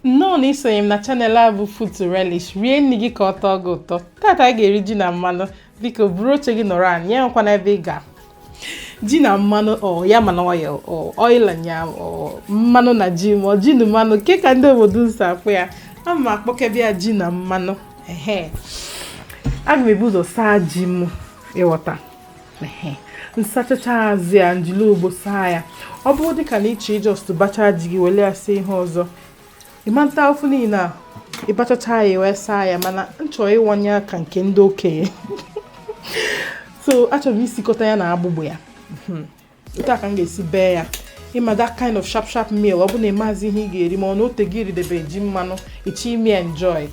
nnọọ na isonye m na channel a bụ Food to Relish rie nri gị ka ọ tọọ gị ụtọ tata anyị ga-eri ji na mmanụ biko buru oche gị nọrọ anyị ya enwekwana ebe ị ga ji na mmanụ yam and oil oil and yam mmanụ na ji ma ọ ji na mmanụ ke ka ndị obodo unu si akpọ ya a ma akpọkebe ya ji na mmanụ ehe aga m ebu ụzọ saa ji m ịghọta nsachacha azụ ya njili ogbo saa ya ọ bụrụ dịka na ịchọ ị just bachaa ji gị wele ya sie ihe ọzọ ịmata ofu niile a ịbachacha ya wee saa ya mana nchọ ịwanye ya ka nke ndị okenye so achọrọ m isikọta ya na agbụgbụ ya hmm. otu a ka m ga-esi bee ya ịma that kind of sharp sharp meal ọ bụ na ịmazi ihe ị ga-eri ma ọ na otee i ridebe ji mmanụ ịchọ ime enjoy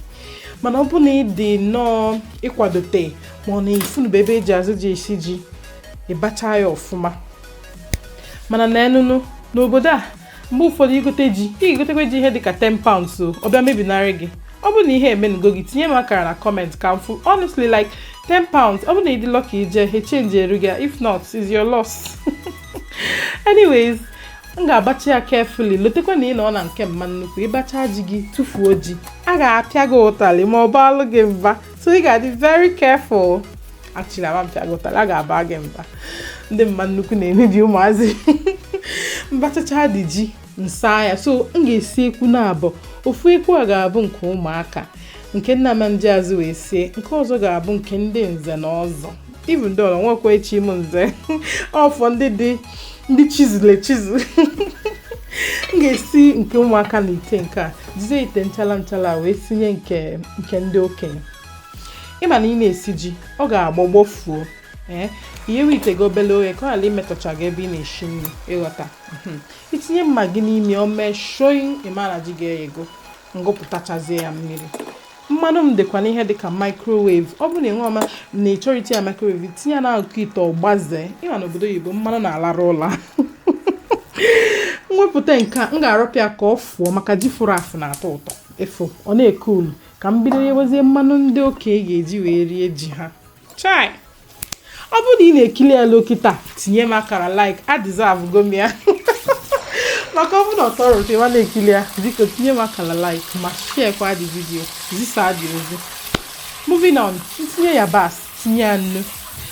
mana ọ bụ na ị dị nnọọ ịkwadote ma ọ na ifunube ebe eji azụ ji esi ji ịbacha ya ọfụma mana na ị nọnụ n'obodo a mgbe ụfọdụ igote ji ị ga-egotekwa ji ihe dịka 10 pounds o ọ bịa mebinarị gị ọ bụrụ na ihe emenugo gị tinye m akara na comment ka m fụ honestly like 10 pounds ọ bụrụ na ịdị lucky ije he change eru gị if not is your loss anyways m ga-abacha ya carefully lotekwa na ị nọ na nke mma nnukwu ịbacha ji gị tụfuo ji a ga-apịa gị ụtalị ma ọ baalụ gị mba so ị ga-adị very careful actually a ma apịa gị ụtalị a ga-aba gị mba ndị mma nnukwu na-emebi ụmụazị mbachacha the ji nsa ya so m ga-esi ekwu na abụọ ofu ekwu a ga-abụ nke ụmụaka nke m na-ama eji azụ wee sie nke ọzọ ga-abụ nke ndị nze na ọzọ even though o nwekwa echighị m nze ọ for ndị dị ndị chizulu echizu m ga-esi nke ụmụaka na ite nke a jizie ite nchala nchala wee sinye nke ndị okenye ịma na ị na-esi ji ọ ga-agbọ gbọfuo ee eh, iyewe ite gị obele oghe ka ọ ghara imetọcha gị ebe ị na-esi nri ịghọta hmm. itinye mma gị n'ime o mee shoyi ịmara ji gị eyego ngụpụtachazie ya mmiri mmanụ m dịkwa n'ihe dịka microwave ọ bụrụ na ị nwerọ ma ọ na ịchọrọ itinye microwave tinye ya n'akụkụ ite ọ gbazee ịma na obodo oyibo mmanụ na-alarụ ụla mwepụta nke a m ga-arapụ ya ka ọ fụọ maka ji fụrụ afụ na-atọ ụtọ efu ọ na-eke ulu ka m bido yewezie mmanụ ndị okenye ga-eji wee rie ji ha chai ọ bụrụ na ị na-ekili ya luo kịta tinye m akara like a deserve go m ya maka ọ bụrụ na ọ tọrọ ụtọ ị ma na-ekili ya biko tinye m akara like ma share kwa the video zisa the ozi moving on ntinye yabasị tinye ya nnu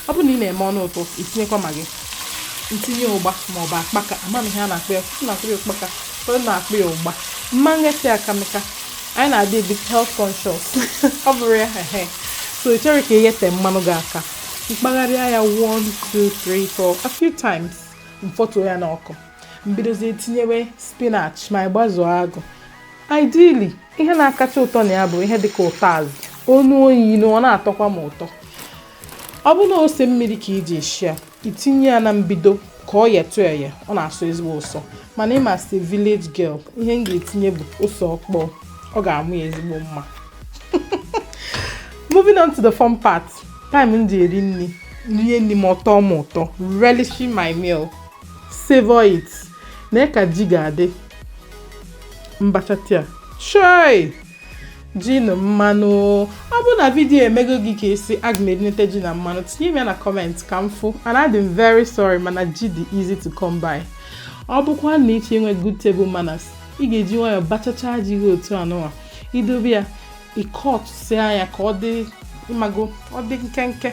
ọ bụrụ na ị na-eme ọnụ ụtọ itinyekwa Maggi m tinye ụgba ma ọ bụ akpaka ama m ihe a na-akpọ ya ụfọdụ na-akpọ ya ụkpaka ụfọdụ na-akpọ ya ụgba m ma nghefe aka maka anyị na-adị a bit health conscious ọ bụrụ ya ehe so ị chọrọ ka i ghete mmanụ gị aka m kpagharịa ya 1 2 3 4 a few times m fọtuo ya n'ọkụ m bidozie tinyewe spinach ma ị gbazuo agụ ideally ihe na-akacha ụtọ na ya bụ ihe dịka ụtazị onu oyi na ọ na-atọkwa m ụtọ ọ bụ na ose mmiri ka i ji esi ya i tinye ya na mbido ka ọ yetụ eye ọ na-asọ ezigbo ụsọ mana ị ma si village girl ihe m ga-etinye bụ ose ọkpọ ọ ga-amụ ya ezigbo mma moving on to the fun part time m ji eri nri rie nri m ọ tọọ m ụtọ relishing my meal savor it na ka ji ga-adị m bachatịa chai ji na mmanụ ọ bụrụ na vidiyo emego gị ka esi aga m erinete ji na mmanụ tinye m ya na kọmentị ka m fụ and adị m very sorry mana ji dị easy to come by ọ bụkwa na ị chọ inwe good table manners ị ga-eji nwayọọ bachacha ji gị otu anụwa i dobe ya ị kọtụsịa ya ka ọ dị ị mago ọ dị nkenke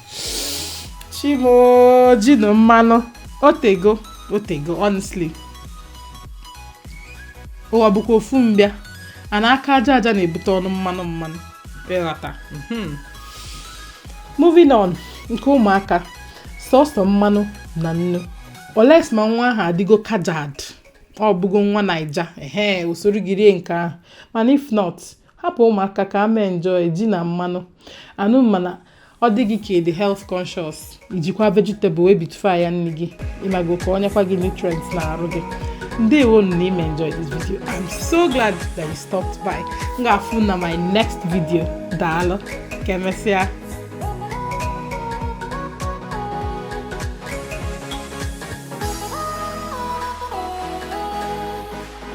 chi m o ji na mmanụ otego otego honestly ụwa bụkwa ofu mbịa a na aka aja aja na-ebute ọnụ mmanụ mmanụ ị ghọta mhm. moving on nke ụmụaka sọsọ mmanụ na nnu unless ma nwa ahụ adịgo kajad ọ bụgo nwa naija ehe o soro gị rie nke ahụ mana if not Hapụ ụmụaka ka ha mee enjoy ji na mmanụ. Anụ mana ọ dị gị ka ịdị health conscious i jikwa vegetable wee bitụfa ya nri gị ị mago ka o nyekwa gị nutrients na arụ gị. Ndewo na i mee enjoy this video. I'm so glad that you stopped by. M ga-afụ na my next video. Daalụ. Ka emesịa.